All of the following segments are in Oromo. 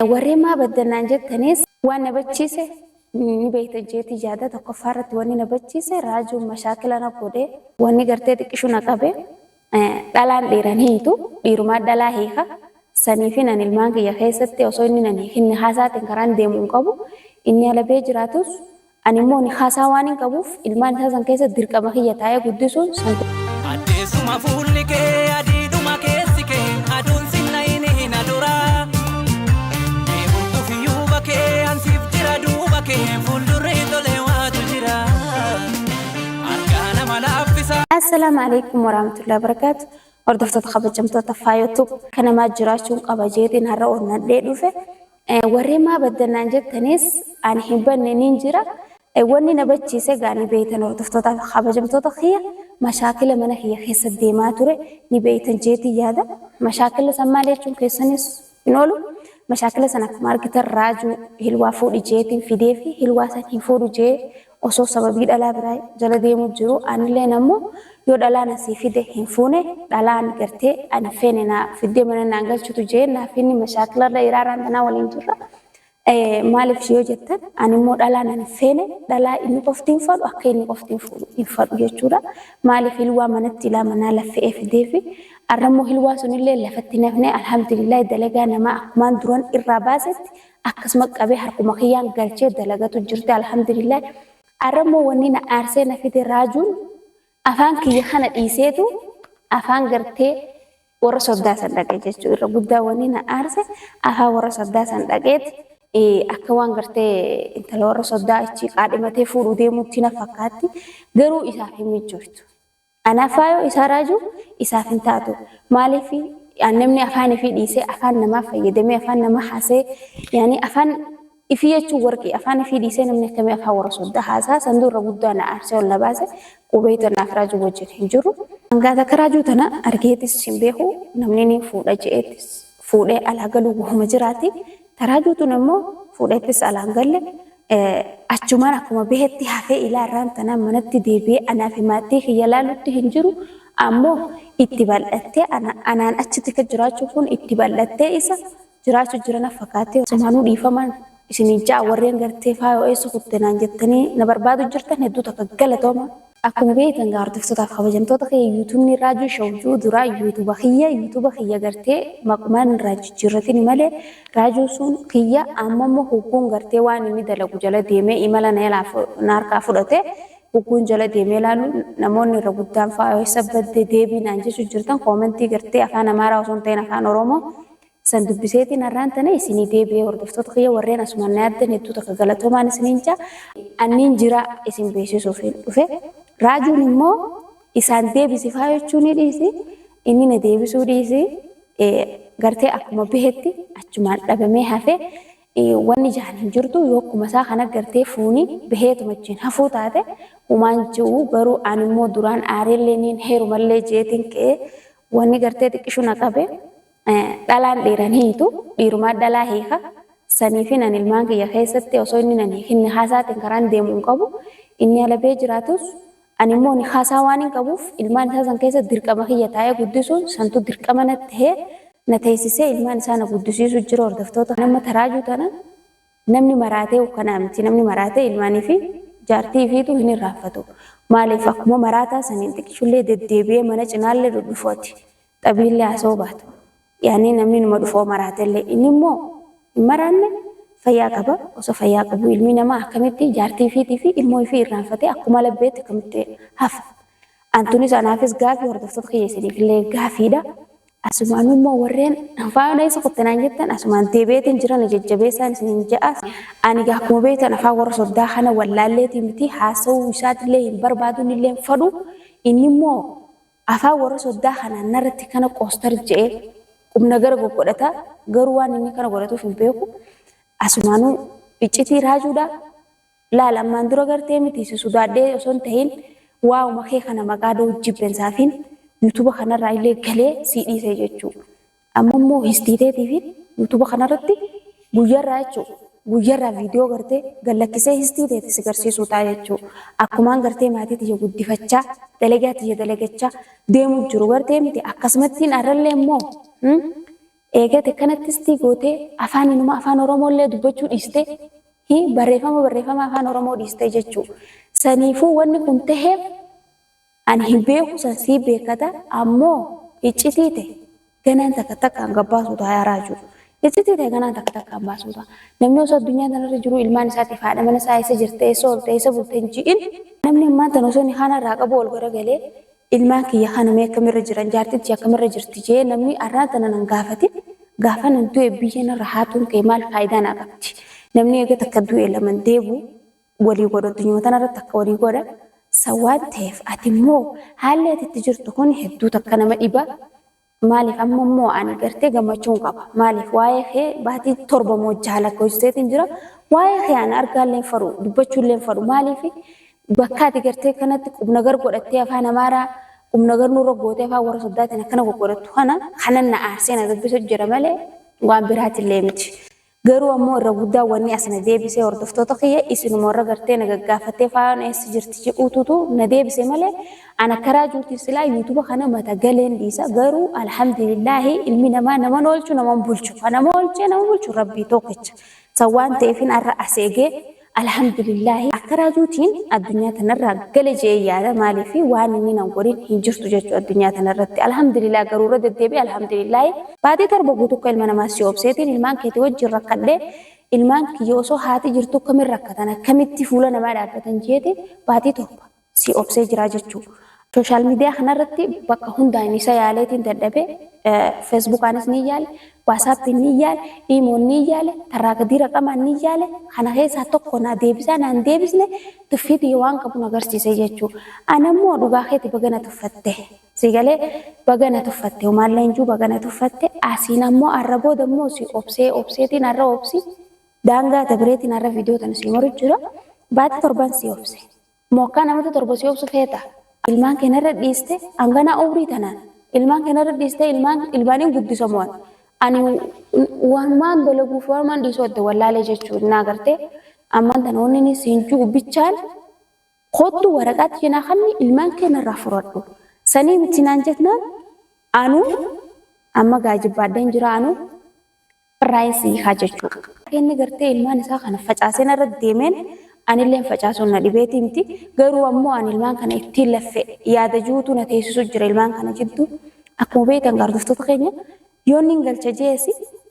Warreen maa baddan naan jettanis waan na bachiise ni beekta jeetii yaada tokkoffaa irratti wanni na bachiise raajuun mashaakila na godhe wanni gartee xiqqishu na qabe dhalaan dhiiran hiitu dhiirumaa dhalaa hiika saniifi nan ilmaan kiyya keessatti osoo inni nan hiikinni haasaatiin karaan deemu hin qabu inni alabee jiraatus Ani immoo nikaa isaa waanin qabuuf ilmaan isaa san keessa dirqama kiyya taa'ee guddisuun santu. Addeessuma fuulli kee adiidhuma keessi kee aduun sinna hin hina dura. Mee hurgufi yuuba kee ansiif jira duuba kee fuuldurri tolee waatu jira. Argaa nama laaffisa. Assalaamu alaikum warahmatullahi wabarakatuh. Hordoftoota kabajamtoota faayotu kanamaa jiraachuun qaba jeetiin har'a onnadhee dhufe. Warreen maa baddan naan jettanis ani hin banne niin jira. Wanni na bachiise egaa ni beeytan hordoftoota kabajamtoota kiyya mashaakila mana kiyya keessa deemaa ture ni beeytan jeetiin yaada. Mashaakila san maal jechuun keessanis hin oolu. Mashaakila san akkuma argitan raajuu hilwaa fuudhi jeetiin fidee fi hilwaa san hin fuudhu jee osoo sababii dhalaa biraa jala deemuu jiruu anilleen ammo yoo dhalaa na sii fide hin fuune dhalaan gartee ani hin feene na fiddee mana naan galchutu jee naaf inni mashaakila irra iraa irraan tanaa waliin jirra maaliif yoo jettan ani immoo dhalaa nan hin feene dhalaa inni qofti hin fadhu akka inni qofti hin fuudhu hin fadhu jechuudha maaliif hilwaa manatti ilaa manaa laffe'ee fidee fi arrammoo hilwaa sunillee lafatti nafnee alhamdulillah dalagaa namaa akkumaan duran irraa baasetti akkasuma qabee harkuma kiyyaan galchee dalagatu jirti alhamdulillah arra immoo wanni na aarsee na fide raajuun afaan kiyya kana dhiiseetu afaan gartee warra soddaa san dhaqe jechuu irra guddaa wanni na aarse afaan warra soddaa san dhaqeeti akka waan gartee intala warra soddaa achi qaadhimatee fuudhuu deemuutti na fakkaatti garuu isaaf hin mijjooytu. An afaa yoo isaa raaju isaaf hin taatu. Maaliif namni afaan ifii dhiisee afaan namaa fayyadamee afaan namaa haasee yaani afaan ifii jechuun warqii afaan ifii dhiisee namni akkamii afaan warra soddaa haasaa san durra guddaa na aarsee ol na baase qubee tan naaf raajuu wajjin hin jiru. Hangaa takka raajuu tana argeetis hin beeku namni ni fuudha je'eetis fuudhee alaa galuu wahuma jiraati. Ta raajuu tun ammoo fuudheettis alaa hin galle. achumaan akkuma bahetti hafee ilaa irraan tanaan manatti deebi'ee anaa fi maatii kiyya laalutti hin jiru ammoo itti bal'attee ana anaan achi tika jiraachuun kun itti bal'attee isa jiraachu jirana fakaatee sumaanuu dhiifamaan isinii ja'a warreen gartee faayoo eessa kutte naan jettanii na barbaadu jirtan hedduu takka galatooma. Akkuma beektan egaa hordoftoota fi kabajamtoota kiyya yuutuubni Raajuu Show jiru dura yuutuuba kiyya yuutuuba kiyya gartee maqumaan irraa jijjiirratini malee Raajuu sun kiyya amma immoo hogguun gartee waan inni dalagu jala deemee imala na jalaa na harkaa fudhate hogguun jala deemee ilaalu namoonni irra guddaan faa eessa badde deebii naan jechuu jirtan koomentii gartee afaan Amaaraa osoo hin ta'in afaan Oromoo San dubbiseetiin har'aan tana isinii deebi'e hordoftoota kiyya warreen asumaan na yaaddan hedduu takka galatoomaan isiniin ja'a. Anniin jira isin beeksisuufiin dhufe. Raajuun immoo isaan deebisi faa jechuu ni dhiisi. Inni na deebisuu dhiisi. Gartee akkuma bahetti achumaan dhabamee hafe. Wanni jaan hin jirtu yoo akkuma isaa kana gartee fuuni baheetuma achiin hafuu taate humaan jiru garuu an immoo duraan aareellee niin heerumallee jeetiin ka'ee wanni gartee xiqqishu na qabe. Dhalaan dhiira hin hiitu, dhiirumaa dhalaa hiika. Saniifin ani ilmaan kiyya keessatti osoo inni nan hiikin nikaasaatiin karaan deemu hin qabu. Inni ala bahee jiraatus ani immoo nikaasaa waanin qabuuf ilmaan isaa san keessa dirqama kiyya taa'ee guddisuun santu dirqama natti tahee na teessisee ilmaan isaa na guddisiisu jira hordoftoota kana. Amma taraajuu tana namni maraatee ukkanaa miti. Namni maraatee ilmaanii fi jaartii ifiitu hin irraanfatu. Maaliif akkuma maraataa saniin xiqishullee deddeebi'ee mana cinaallee dhudhufooti. Dhabiillee haasawuu baatu. Yaani namni numa dhufoo maraatellee inni immoo hin maraanne fayyaa qaba. Osoo fayyaa qabuu ilmi namaa akkamitti jaartii ifiitii fi ilmoo ifii irraanfatee akkuma labbeetti akkamitti hafa? An tunis anaafis gaafii hordoftoota kiyya isiniifillee gaafiidha. Asumaanuu immoo warreen afaan eessa kutte naan jettan asumaan deebi'eetiin jira na jajjabeessaan isiniin ja'a. Ani gaa akkuma beektan afaan warra soddaa kana wallaalleetii miti haasawuu isaatillee hin barbaadu innillee hin fadhu. Inni immoo Afaan warra soddaa kanaan narratti kana koostar je'ee qubnagara goggodhata, garuu waan inni kana godhatuuf hin beeku. Asumaanuu iccitii raajuudha. Laal ammaan dura gartee miti si sudaadhee osoo hin tahin waawuma kee kana maqaa dhawuuf jibbensaafin yutuba kanarraa illee galee sii dhiise jechuu. Amma immoo histii teetii fi yuutuuba kanarratti guyyarraa jechuu guyyarraa viidiyoo gartee gallakkisee histii teeti si garsiisuu ta'a jechuu akkumaan gartee maatii tiyya guddifachaa dalagaa tiyya dalagachaa deemu jiru gartee miti akkasumattiin arrallee immoo eegate kanatti histii gootee afaan inuma afaan oromoo illee dubbachuu dhiistee hi barreeffama barreeffama afaan oromoo dhiistee jechuu saniifuu wanni kun taheef Ani hin beeku san sii beekata ammoo hiccitii te ganaan takka takkaan gabbaasuu ta'a yaa raajuu. Hiccitii te ganaan takka takkaan baasuu ta'a. Namni osoo addunyaa tanarra jiruu ilmaan isaatiif haadha mana isaa eessa jirte eessa oolte eessa bulte hin ji'in namni ammaan tana osoo nikaana irraa qabuu ol garagalee ilmaan kiyya kana mee akkamirra jiran jaartin tiyya akkamirra jirti je'ee namni arraan tana nan gaafatin gaafan an du'e biyya narra haatuun kee maal faayidaa naa qabdi namni eega takka du'e laman deebu walii godhu addunyaa tanarratti akka walii godha san waan ta'eef ati immoo haalli ati itti jirtu kun hedduu takka nama dhiba maaliif amma immoo ani gartee gammachuun qaba maaliif waa'ee kee baatii torba moo jaha lakkoofsiseetiin jira waa'ee kee ani argaalleen faru dubbachuulleen faru maaliif bakka ati gartee kanatti qubna gar godhattee afaan amaaraa qubna gar nurra gootee afaan warra soddaatiin akkana goggodhattu kana kanan na aarsee na dubbisu jira malee waan biraatillee miti. Garuu ammoo irra guddaan wanni as na deebise hordoftoota kiyya isinuma warra gartee na gaggaafattee Faayoon eessa jirti jedhuututu na deebise malee an akka raajuutiif silaa yuutuba kana mata galeen dhiisa garuu alhamdulillaahi ilmi namaa naman oolchu naman bulchu ka nama oolchee nama bulchu rabbii tookicha san waan ta'eefin arra as eegee Alhamdulillaahi akka raajuutiin addunyaa tanarraa gale je'ee yaada maaliif waan inni nan godhin hin jirtu jechu addunyaa tanarratti alhamdulillah garuu irra deddeebi'e alhamdulillaahi baatii torba guutuu akka ilma namaa si obseetiin ilmaan keetii wajjiin rakkadhe ilmaan kiyya osoo haati jirtuu akkamiin rakkatan akkamitti fuula namaa dhaabbatan jeete baatii torba sii obsee jiraa jechuu. Social media kana irratti bakka hundaan isa yaaleetiin dadhabe Facebookaanis ni yaale, WhatsAppiin ni yaale, Imoon ni yaale, tarraa gadii raqamaan ni yaale kana keessaa tokko naa deebisaa naan deebisne tuffii tiyya waan qabu na garsiise jechuu. Ana immoo dhugaa keeti baga na tuffatte. Sii galee baga na tuffatte humaallee hin jiru baga na tuffatte asiin ammoo har'a booda immoo sii obsee obseetiin har'a obsi daangaa dabreetiin har'a viidiyoo tana sii maru jira baatii torban sii obse. Moo akkaa namatti torba si obsu feeta? Ilmaan kee narra dhiiste hanganaa umrii tanaan ilmaan kee narra dhiiste ilmaan ilmaaniin guddisa moo ani? Ani waanumaan dalaguuf waanumaan dhiisuu adda wallaalee jechuun naa gartee ammaan tana wanni inni siin ji'u bichaan kottu waraqaa tiyya naa kanni ilmaan kee narraa furadhu. Sanii miti naan jetnaan anuu amma gaajibbaadheen jira anuu Carraa'een si hiikaa jechuu. Akka inni gartee ilmaan isaa kana facaasee narratti deemeen anilleen facaasuun na dhibeetii miti. Garuu ammoo ani ilmaan kana ittiin laffe yaada jirutu na teessisu jira ilmaan kana jidduu. Akkuma beektan gaardoftoota keenya yoon nin galcha je'es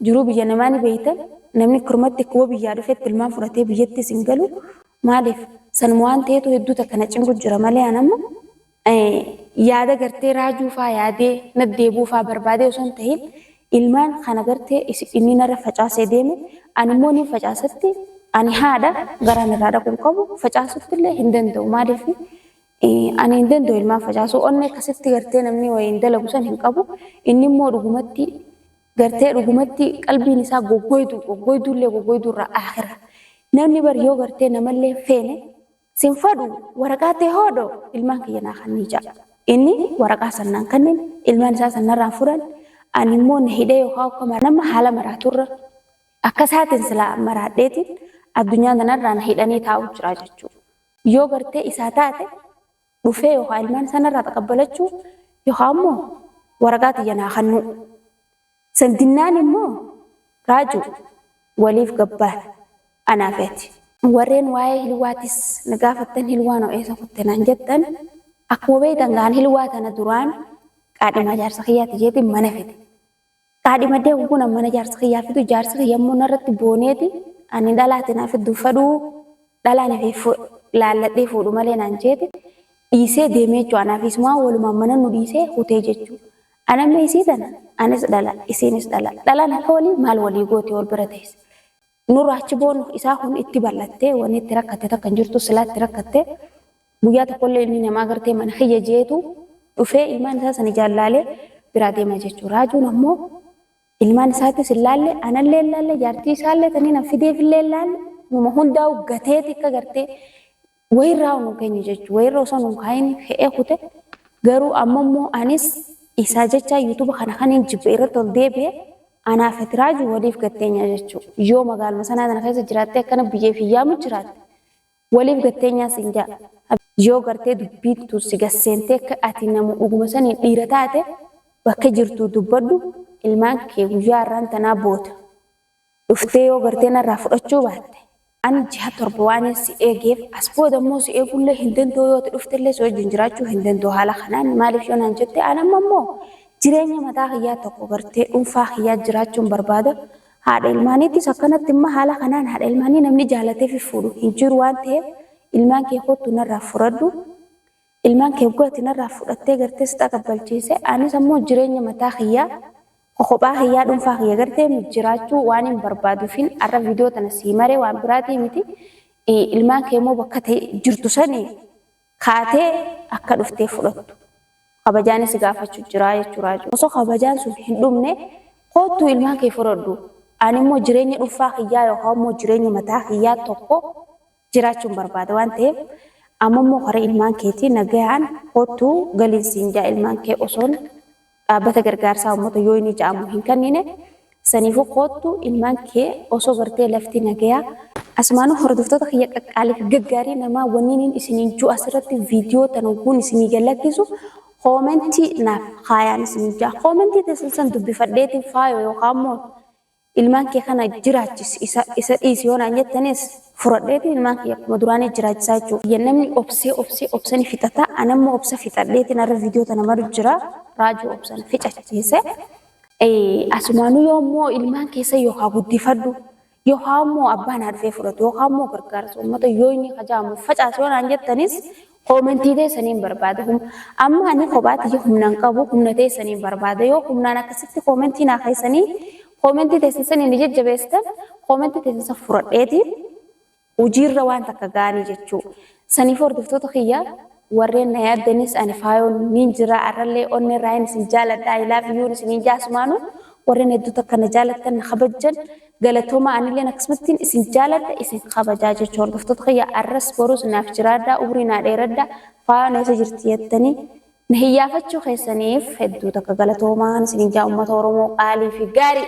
jiruu biyya namaa ni beektan namni kirmatti akkuma biyyaa dhufetti ilmaan fudhatee biyyattis hin galu. Maaliif sanuma waan ta'eetu hedduu takka na cinqu jira malee an amma. yaada gartee raajuu faa yaadee naddeebuu faa barbaadee osoo hin tahin ilmaan kana gartee inni narra facaasee deeme ani immoo niin facaasatti ani haadha garaan irraa dhaquu hin qabu facaasutti illee hin danda'u maaliif ani hin danda'u ilmaan facaasuu onnee akkasitti gartee namni wayiin dalagu san hin qabu inni immoo dhugumatti gartee dhugumatti qalbiin isaa goggoyduu goggoyduullee goggoyduurraa aakira namni bar yoo gartee namallee feene Sin fadhu, waraqaa tee hoodho ilmaan kiyya naa kannii ja'a. Inni waraqaa san naan kannen, ilmaan isaa san narraan fudhan, ani immoo na hidhee yookaa ukkamaan nama haala maraaturra akka isaatiin silaa maraadheetiin addunyaa tanarraa na hidhanii taa'uu jiraa jechuu. Yoo gartee isaa taate dhufee yookaa ilmaan isaa narraa taqabbalachuu yookaa immoo waraqaa tiyya naa kannuu. Santinnaan immoo Raajuu waliif gabbaana anaafi ati. Warreen waa'ee Hilwaatis na gaafattan Hilwaa noo eessa kutte naan jettan akkuma beektan egaa ani Hilwaa tana duraan qaadhimaa jaarsa kiyyaati jeetiin mana fide. Qaadhimadhee hogguun an mana jaarsa kiyyaa fidu jaarsi kiyya immoo narratti booneeti ani dhalaa ati naa fiddu fedhuu dhalaan ifeef laalladhee fuudhu malee naan jeeti dhiisee deemee jechuu anaafi isumaa walumaan mana nu dhiisee hutee jechuu. Ani amma isii tana, anis dhala, isiinis dhala. Dhalaan akka walii maal walii gooti wal bira teesse. Nurraa achi boonu isaa kun itti bal'attee wanni itti rakkatte takka hin jirtu silaa itti rakkatte guyyaa tokkollee inni namaa gartee mana kiyya jeetu dhufee ilmaan isaa san ijaan laalee biraa deema jechuudha. Raajuun ammoo ilmaan isaattis hin laalle anallee hin laalle jaartii isaallee tanii nan fideefillee hin laalle numa hundaa'u gateeti akka gartee wayirraa unu kenye jechu wayirra osoo nun kaayini fe'ee kute garuu amma immoo anis isaa jechaa yuutuba kana kanin jibbe irratti ol deebi'e anaa fi tiraaju waliif gatteenyaa jechuu yoo magaaluma sanaa tana keessa jiraattee akkana biyyeef hin yaamu jiraatte waliif gatteenyaa siin jaa yoo gartee dubbiin tun si gasseentee akka ati namu dhuguma saniin dhiira taate bakka jirtuu dubbadhu ilmaan kee guyyaa har'aan tanaa booda. Dhuftee yoo gartee narraa fudhachuu baatte ani jiha torba waanin si eegeef as booda immoo si eeguullee hin danda'u yoo ati dhuftellee si wajjin jiraachuu hin danda'u haala kanaan maaliif yoo naan jette an amma immoo jireenya mataa kiyyaa tokko gartee dhuunfaa kiyyaa jiraachuun barbaada haadha ilmaaniittis akkanatti immoo haala kanaan haadha ilmaanii namni jaalateefi fuudhu hin jiru waan ta'eef ilmaan kee kottu narraa furadhu ilmaan kee gati narraa fudhattee gartee si xaqabbalchiise anis ammoo jireenya mataa kiyyaa Kophaa kiyyaa dhunfaa kiyya gartee jiraachuu waan hin barbaaduufin arra viidiyoo tana sii maree waan biraatii miti ilmaan kee immoo bakka jirtu sani kaatee akka dhuftee fudhattu kabajaan si gaafachuu jiraa jechuu raajuu osoo kabajaan sun hin dhumne koottuu ilmaan kee fudhadhu ani immoo jireenya dhunfaa kiyyaa yookaan immoo jireenya mataa kiyyaa tokko jiraachuun barbaada waan ta'eef ammammoo kara ilmaan keetii nagayaan kottu galiin siin jaa ilmaan kee osoon dhaabbata gargaarsaa ummata yooyinii ja'amu hin kanniine saniifuu koottu ilmaan kee osoo gartee lafti nagayaa Asumaanuu hordoftoota kiyya qaqqaaliif gaggaarii namaa wanniiniin isiniin juu asirratti viidiyoo tan hogguun isinii gad lakkisu koomentii naaf kaayaan isiniin jaa koomentii teessan san dubbifadheetiin faayoo yookaan immoo Ilmaan kee kana jiraachisi, isa, isa dhiisi yoo naan jettanis, furadheeti ilmaan kiyya akkuma duraanii jiraachisaa jechuudha. Biyya namni obsee obsee obsa ni fixata, anammoo obsa fixadheetiin har'a viidiyoo tana maru jira. Raajuu obsa na fixachiise. Asumaanuu yoo immoo ilmaan keessa yoo haa guddifadhu, yoo haa immoo abbaa naa dhufee fudhatu, yoo haa immoo gargaarsa uummata yoo inni hajaamu facaasi yoo naan jettanis, Koomentii teessaniin barbaada. Hum- Amma ani kophaa tiyya humnaan qabu humna teessaniin barbaada. Yoo humnaan akkasitti koomentii naa keessanii koomentii teessan saniin ni jajjabeessitan koomentii teessan san furadheeti hojiirra waan takka gaanii jechuu. Saniif hordoftoota kiyya warreen na yaaddanis ani faayoon niin jira arrallee onnee raayin isin jaaladha I love you isiniin jaasumaanu warreen hedduu takka na jaalattan na kabajjan Galatooma anilleen akkasumattiin isin jaaladha isin kabajaa jecha hordoftoota kiyya arras borus naaf jiraadhaa umrii naa dheeradhaa faano eessa jirti jettanii na hiyyaafachuu keessaniif hedduu takka galatoomaan isin jaa ummata oromoo qaalii fi gaarii.